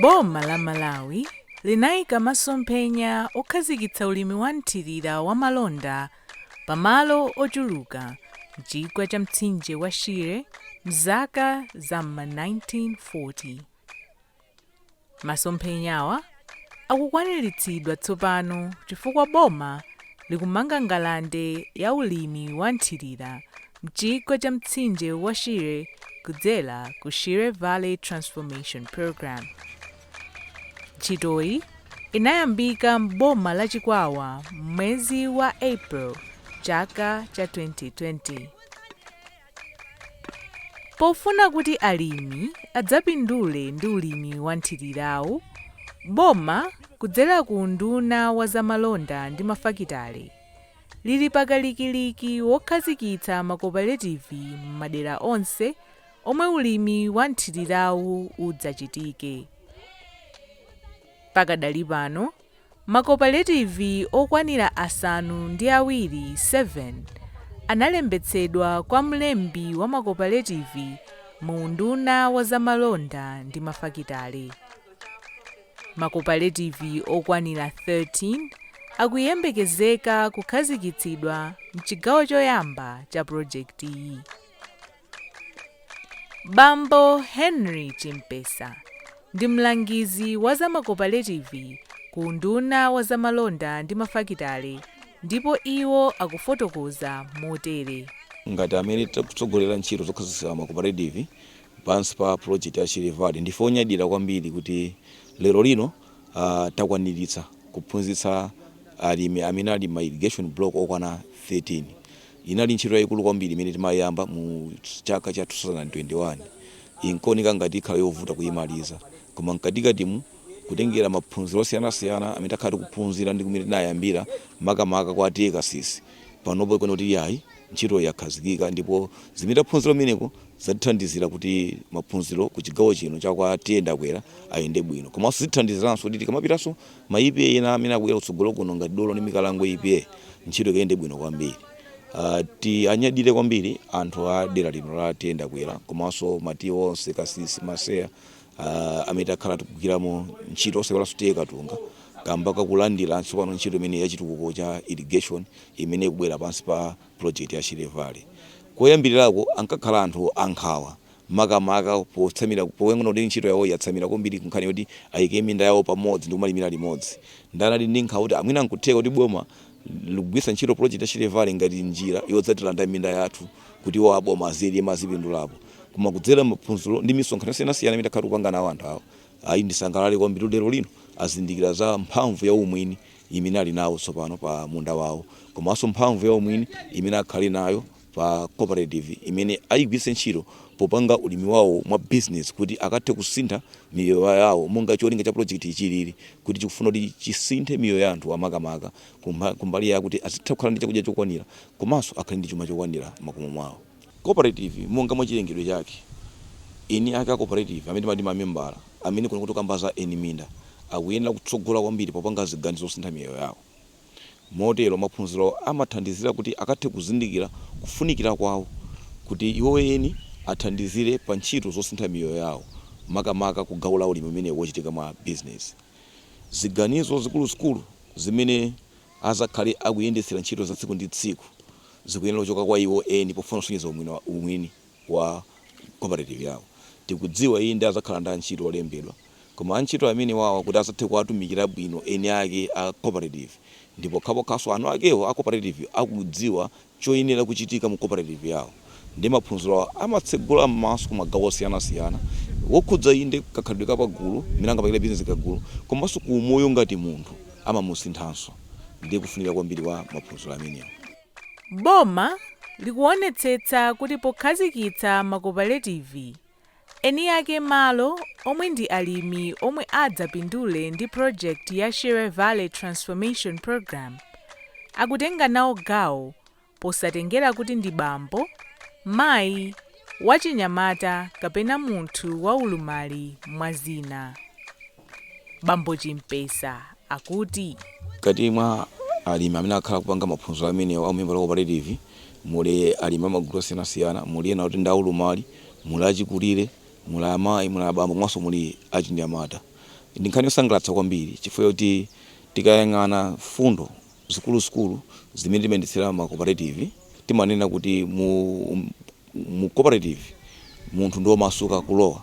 Boma la Malawi linaika masomphenya okhazikitsa ulimi wa mthirira wa malonda pa malo ochuluka m'chigwa cha mtsinje wa Shire m'zaka za m'ma 1940. Masomphenyawa akukwaniritsidwa tsopano chifukwa boma likumanga ngalande ya ulimi wa nthirira m'chigwa cha mtsinje wa Shire kudzera ku Shire Valley Transformation Programme. Ntchitoyi inayambika m'boma la Chikwawa m'mwezi wa April chaka cha 2020. Pofuna kuti alimi adzapindule ndi ulimi wa nthilirawu, boma kudzera ku unduna wa za malonda ndi mafakitale lili pakalikiliki wokhazikitsa makopaletivi m'madera onse omwe ulimi wa nthilirawu udzachitike. Pakadali pano, Makopaletivi okwanira asanu ndi awiri 7 analembetsedwa kwa mlembi wa makopaletivi mu Unduna wa Zamalonda ndi Mafakitale. Makopaletivi okwanira 13 akuyembekezeka kukhazikitsidwa m'chigawo choyamba cha projekitiyi. Bambo Henry Chimpesa ndi mlangizi wa za makopaletivi ku unduna wa za malonda ndi mafakitale ndipo iwo akufotokoza motere. Ngati amene tikutsogolera ntchito zokhazikitsa makopaletivi pansi pa pulojekiti ya Shire Valley, ndife onyadira kwambiri kuti lero lino takwaniritsa kuphunzitsa alimi amene ali m'ma irrigation block okwana 13. Inali ntchito yaikulu kwambiri imene timayiyamba mu chaka cha 2021. Inkaoneka ngati ikhala yovuta kuyimaliza, koma mkatikatimu kutengera maphunziro osiyanasiyana amene takhala tikuphunzira ndi kumene tinayambira makamaka kwa TA Kasisi, panopo ikuoneka kuti iyayi ntchitoyi yakhazikika ndipo zimene taphunzira kumeneko zatithandizira kuti maphunziro ku chigawo chino cha kwa TA Ndakwera ayende bwino komanso zitithandiziranso kuti tikamapitanso Ma EPA ena amene akubwera kutsogolo kuno ngati Dolo ndi Mikalango EPA ntchito ikayende bwino kwambiri. Uh, tianyadire kwambiri anthu a dera lino la TA Ndakwera komanso ma TA onse Kasisi, Maseya uh, amene takhala tikugwiramo ntchito osaiwalanso TA Katunga kamba kakulandira tsopano ntchito imene yachitukuko cha irrigation imene ikubwera pansi pa project ya Shire Valley. Koyambirirako ankakhala anthu ankhawa makamaka potsamira poyang'ana kuti ntchito yawoyi yatsamira kwambiri kunkhani yoti ayike minda yawo pamodzi ndi kumalimira limodzi. Ndiye anali ndi nkhawa kuti mwina n'kutheka kuti boma likugwiritsa ntchito project ya Shire Valley ngati njira yodzatilanda minda yathu kuti iwowo a boma azilima, azipindulapo? Koma kudzera m'maphunziro ndi misonkhano yosiyanasiyana imene takhala tikupanga nawo anthu awa, ayi ndisangalale kwambiri kuti lero lino azindikira za mphamvu ya umwini imene ali nawo tsopano pa munda wawo komanso mphamvu ya umwini imene akhale nayo pa cooperative imene ayigwiritse ntchito popanga ulimi wawo mwa business kuti akathe kusintha miyoyo yawo monga cholinga cha project-yi chilili kuti chikufuna kuti chisinthe miyoyo ya anthuwa makamaka kumbali yakuti azitha kukhala ndi chakudya chokwanira komanso akhale ndi chuma chokwanira m'makomo mwawo. Cooperative monga mwa chilengedwe chake, eni ake a cooperative amene timati ma membala amene kuno tikukamba za eni minda akuyenera kutsogola kwambiri popanga ziganizo zosintha miyoyo yawo. Motero, maphunziro awa amathandizira kuti akathe kuzindikira kufunikira kwawo kuti iwo eni athandizire pa ntchito zosintha miyoyo yawo, makamaka ku gawo la ulimi umene wochitika mwa business. Ziganizo zikuluzikulu zimene azakhale akuyendetsera ntchito za tsiku ndi tsiku zikuyenera kuchoka kwa iwo eni pofuna kusonyeza umwini. wa cooperative yawo. Tikudziwa inde azakhala ndi antchito olembedwa koma antchito amenewawa kuti azathe kuwatumikira bwino eni ake a cooperative ndi pokhapokhaso eni akewo a cooperative akudziwa choyenera kuchitika mu cooperative yawo. Ndiye maphunzirowa amatsegula m'maso ku magawo osiyanasiyana wokhudza inde kakhalidwe ka pagulu, mmene angapangire business kagulu komaso ku umoyo ngati munthu amamusinthanso. Ndiye kufunika kwambiri kwa maphunziro amenewa. Boma likuonetsetsa kuti pokhazikitsa makopaletivi, eniake malo omwe ndi alimi omwe adzapindule ndi project ya Shire Valley Transformation Programme akutenga nawo gawo posatengera kuti ndi bambo, mayi, wachinyamata kapena munthu wa ulumali mwa zina. Bambo Chimpesa akuti. Mkati mwa alimi amene akhala akupanga maphunziro amenewa a umembala wa koparetivi muli alimi a magulu osiyanasiyana. Muli ena oti ndi aulumali, muli achikulire, muli amayi, muli abambo komanso muli achinyamata. Ndi nkhani yosangalatsa kwambiri chifukwa chakuti tikayang'ana mfundo zikuluzikulu zimene timayendetsera ma koparetivi, timanena kuti mu koparetivi munthu ndi womasuka kulowa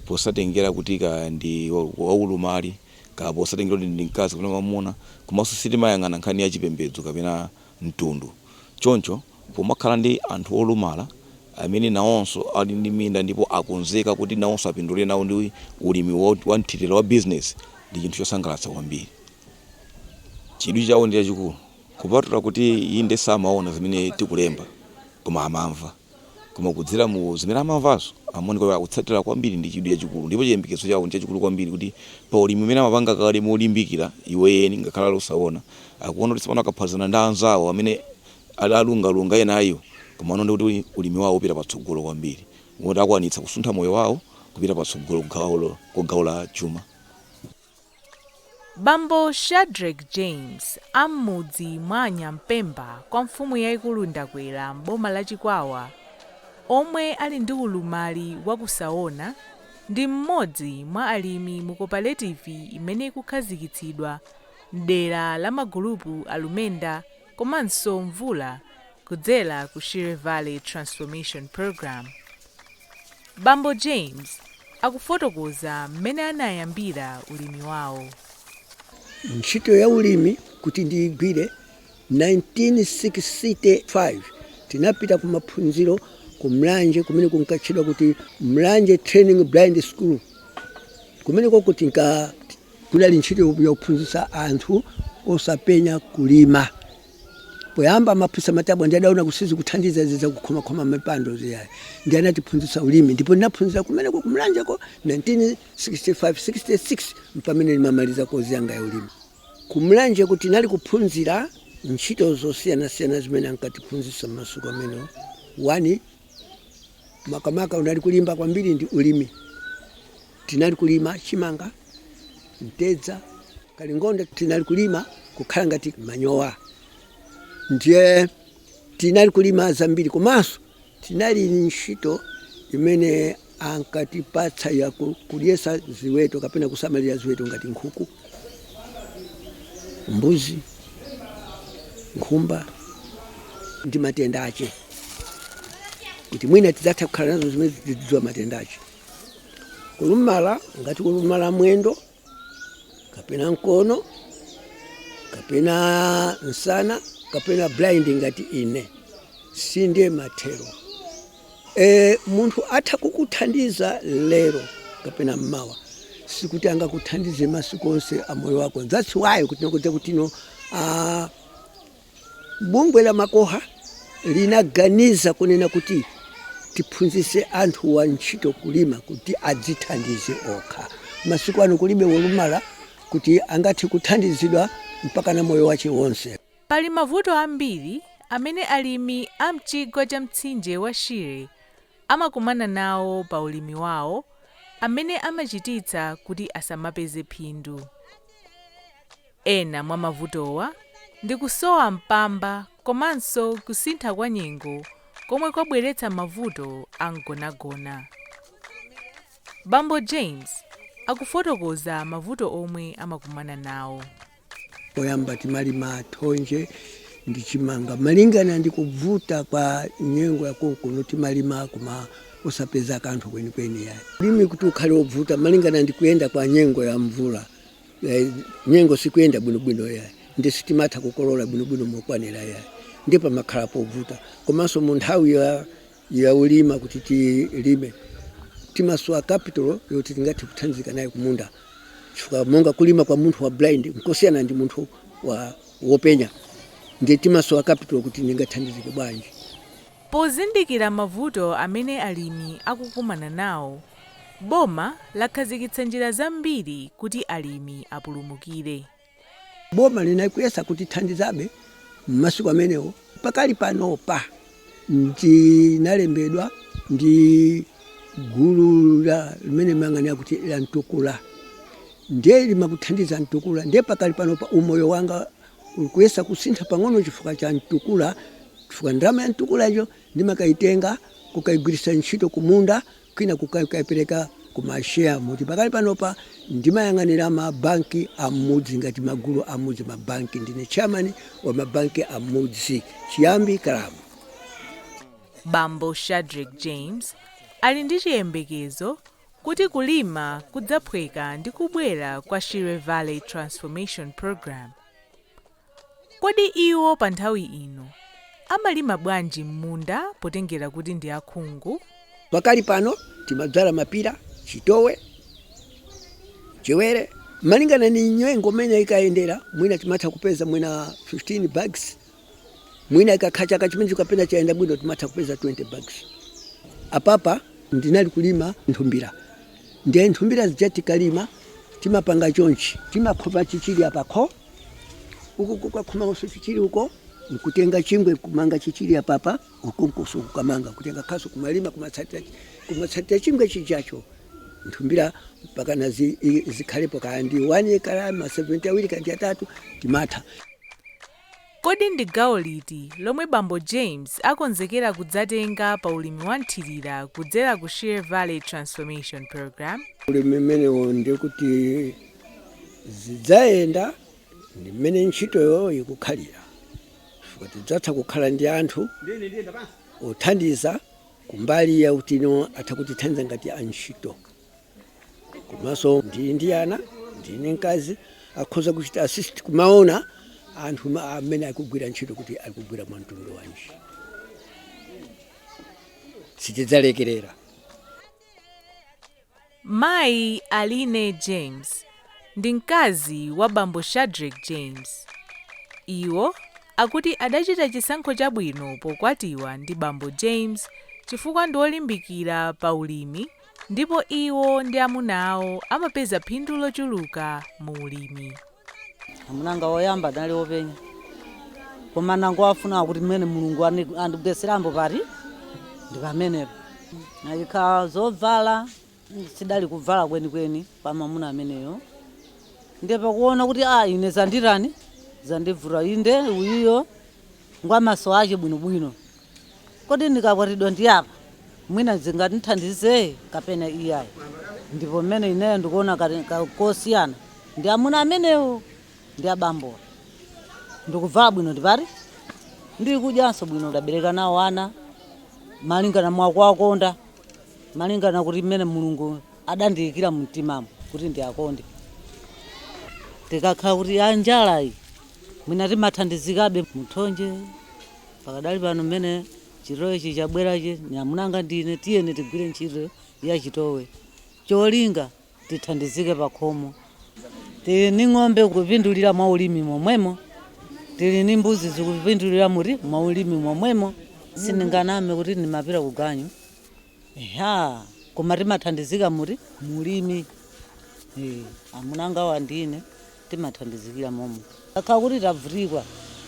posatengera kuti kaya ndi waulumali, kaya posatengera kuti ndi mkazi kapena mwamuna, komanso sitimayang'ana nkhani ya chipembedzo kapena mtundu. Choncho pomakhala ndi anthu olumala amene nawonso ali ndi minda ndipo akonzeka kuti nawonso apindule nawo ndi ulimi wa nthirira wa business, ndi chinthu chosangalatsa kwambiri. Chidwi chawo ndi chachikulu. Kupatula kuti inde samaona zimene tikulemba koma amamva. Koma kudzera mu zimene amamvazo amaoneka kuti akutsatira kwambiri ndi chidwi chachikulu ndipo chiyembekezo chawo ndi chachikulu kwambiri kuti pa ulimi umene amapanga kale molimbikira iwo eni ngakhale ali osaona, akuona kuti tsopano akaphatikizana ndi anzawo amene ali alungalunga ena a iwo koma akuona kuti ulimi wawo upita patsogolo kwambiri moti akwanitsa kusuntha moyo wawo kupita patsogolo ku gawo la chuma. Bambo Shadreck James a m'mudzi mwa a Nyampemba kwa mfumu yaikulu Ndakwera m'boma la Chikwawa omwe ali ndi ulumali wakusaona ndi m'modzi mwa alimi mu koparetivi imene ikukhazikitsidwa m'dera la magulupu a Lumenda komanso mvula kudzera ku Shire Valley Transformation Program. Bambo James akufotokoza mmene anayambira ulimi wawo. Ntchito ya ulimi kuti ndiigwire, 1965 tinapita kumaphunziro ku Mlanje kumene kunkatchedwa kuti Mlanje Training Blind School. Kumenekoko tinka Kunali ntchito yakuphunzitsa anthu osapenya kulima. Poyamba amaphunzitsa matabwa ndi adaona kuti sizikuthandiza izi zakukhomakhoma mipando ziyayi. Ndi anatiphunzitsa ulimi ndipo ndinaphunzira kumeneko ku Mlanjeko 1965, 66 mpamene ndimamaliza kozi yanga ya ulimi. Ku Mlanjeko tinali kuphunzira ntchito zosiyanasiyana zimene ankatiphunzitsa mmasiku amenewo, 1. makamaka unali kulimba kwambiri ndi ulimi tinali kulima chimanga mtedza kalingonde tinali kulima kukhala ngati manyowa ndiye tinali kulima zambiri komanso tinali ntchito imene ankatipatsa ya kudyesa ziweto kapena kusamalira ziweto ngati nkhuku mbuzi nkhumba ndi matenda ache kuti mwina tidzatha kukhala nazo zimene tidziwa matenda ache kulumala ngati kulumala mwendo kapena mkono kapena msana kapena blind ngati ine si ndiye mathero, munthu atha kukuthandiza lero kapena mmawa sikuti angakuthandize masiku onse a moyo wako that's why kuti nakudza kuti no uh, Bungwe la Macoha linaganiza kunena kuti tiphunzise anthuwa ntchito kulima kuti adzithandize okha. Masiku ano kulibe wolumala kuti angathe kuthandizidwa mpakana moyo wache wonse. Pali mavuto ambiri amene alimi a mchigwa cha mtsinje wa Shire amakumana nawo pa ulimi wao amene amachititsa kuti asamapeze phindu. Ena mwa mavutowa ndi kusowa mpamba komanso kusintha kwa nyengo komwe kwabweretsa mavuto a mgonagona. Bambo James akufotokoza mavuto omwe amakumana nawo. Poyamba timalima thonje ndi chimanga. Malingana ndi kubvuta kwa nyengo ya konkuno timalima koma osapeza kanthu kwenikweni yayi. Ulimi kuti ukhale obvuta malingana ndi kuyenda kwa nyengo ya mvula Eh, nyengo sikuyenda bwinobwino yayi ndi sitimatha kukolola bwinobwino mokwanira yayi ndi pamakhala povuta komanso mu nthawi ya, ya ulima kuti tilime timasowa capital yoti tingathe kuthandizika naye kumunda chifukwa monga kulima kwa munthu wa blind nkosiyana ndi munthu wopenya ndi timasowa capital kuti ndingathandizike bwanji Pozindikira mavuto amene alimi akukumana nawo, Boma lakhazikitsa njira zambiri kuti alimi apulumukire. Boma linakuyesa kutithandizabe m'masiku amenewo. Pakali panopa ndinalembedwa ndi gulu la limene limayang'anira kuti la Mtukula ndiye limakuthandiza Mtukula ndiye pakali panopa umoyo wanga uli kuyesa kusintha pang'ono chifukwa cha Mtukula chifukwa ndalama ya Mtukulayo Ndimakaitenga kukaigwiritsa ntchito kumunda kwina kukaipereka ku ma share moti pakali panopa ndimayang'anira ma banki a mmudzi ngati magulu a mmudzi ma banki ndine chairman wa ma banki a mmudzi Chiyambi club. Bambo Shadreck James ali ndi chiyembekezo kuti kulima kudzaphweka ndi kubwera kwa Shire Valley Transformation Program. Kodi iwo pa nthawi ino amalima bwanji m'munda potengera kuti ndi akhungu? Pakali pano timadzala mapira, chitowe, mchewere. Malingana ni nyengo mmene ikayendera mwina timatha kupeza mwina 15 bags mwina ikakhala chaka chimenecho kapena chayenda bwino timatha kupeza 20 bags. Apapa ndinali kulima nthumbira ndiye nthumbira zija tikalima timapanga chonchi timakhoma chichiri apa kho. uko kukakhomanso chichiri uko nkutenga chingwe kumanga chichiri apapa uko nkonso kukamanga kutenga khasu kumalima kumatsatira chingwe chijacho nthumbira mpakana zikhalepo kaya ndi 1 ekala ma 70 awiri kaya atatu timatha kodi ndi gawo liti lomwe bambo james akonzekera kudzatenga pa ulimi wa mthirira kudzera ku shire valley transformation program ulimi umenewo ndikuti zidzayenda ndi mmene ntchitoyo ikukhalira chifukwa tidzatha kukhala ndi anthu othandiza kumbali yakuti atha kutithandiza ngati antchito komanso ndili ndi ana ndili ndi mkazi akhoza kuchita assist kumaona anthu ma- amene akugwira ntchito kuti akugwira mwa mtundu wanji sitidzalekerera Mayi Aline James ndi mkazi wa bambo Shadreck James. Iwo akuti adachita chisankho chabwino pokwatiwa ndi bambo James chifukwa ndi olimbikira pa ulimi ndipo iwo ndi amuna awo amapeza phindu lochuluka mu ulimi. amunanga woyamba adali wopenya koma anangofuna kuti mmene mulungu ani- andigweserambo pati ndi pamenepo nayikha zovala sidali kuvala kwenikweni kwa mamuna ameneyo ndiye pakuona kuti a ine zanditani zandibvuta inde uyiyo ngwamaso ake bwinobwino Kodi ndikakwatidwa ndi apa mwina zingatithandize kapena iyayi? Ndipo mmene ineyo ndikuona kali ka- kosiyana ndi amuna amenewo ndi abambowo. Ndikuvala bwino ndipati? Ndikudyanso bwino ndabereka nawo ana malingana mwa kuwakonda malingana kuti mmene mulungu adandiyikira mumtimamu kuti ndiwakonde tikakhala kuti ya njalayi mwina timathandizikabe mthonje Pakadali pano mmene chitowechi chabwerachi ni amuna anga ndi ine tiyeni tigwire ntchito ya chitowe cholinga tithandizike pakhomo. Tili ni ng'ombe kupindulira mwa ulimi momwemo, tili ni mbuzi zikupindulira muti mwa ulimi momwemo. Sindinganame kuti ndimapita kuganyu. Eya koma timathandizika muti mu ulimi eh, amunangawa ndine timathandizikira momo kakhala kuti tabvutikwa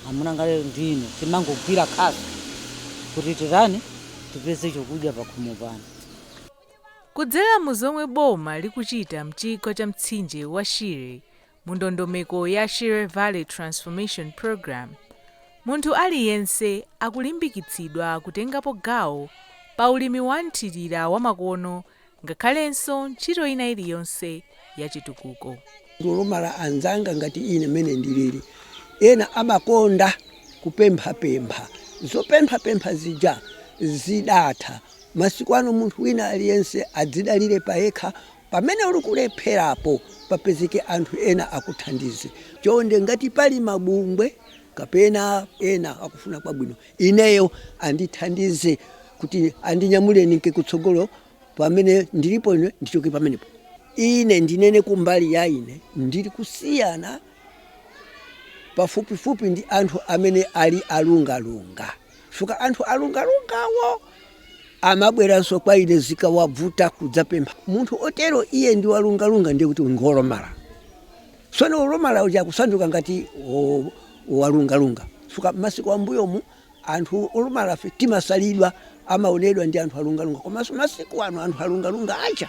amunanga lero ndine timangogwira khasu kuti titani tipeze chokudya pakhomo pano Kudzera mu zomwe boma likuchita m'chigwa cha mtsinje wa Shire, Mu ndondomeko ya Shire Valley Transformation Programme, munthu aliyense akulimbikitsidwa kutengapo gawo pa ulimi wa mthirira wamakono ngakhalenso ntchito ina iliyonse ya chitukuko. Olumala anzanga ngati ine mmene ndilili, ena amakonda kupemphapempha. Zopemphapempha zija zidatha. Masiku ano munthu wina aliyense adzidalire payekha Pamene uli kulepherapo papezeke anthu ena akuthandize. Chonde ngati pali mabungwe kapena ena akufuna kwabwino ineyo andithandize kuti andinyamule ndinke kutsogolo pamene ndilipo ine ndichoke pamenepo. Ine ndinene kumbali ya ine ndili kusiyana pafupifupi ndi anthu amene ali alungalunga. Chifukwa anthu alungalungawo amabweranso kwa ine zikawabvuta kudzapempha. Munthu otero iye ndi walungalunga ndiye kuti ngolomala. Tsono wolomala uja akusanduka ngati walungalunga. Chifukwa masiku ambuyomu anthu olomalafe timasalidwa tikamaonedwa ndi anthu alungalunga komanso masiku ano anthu alungalunga acha.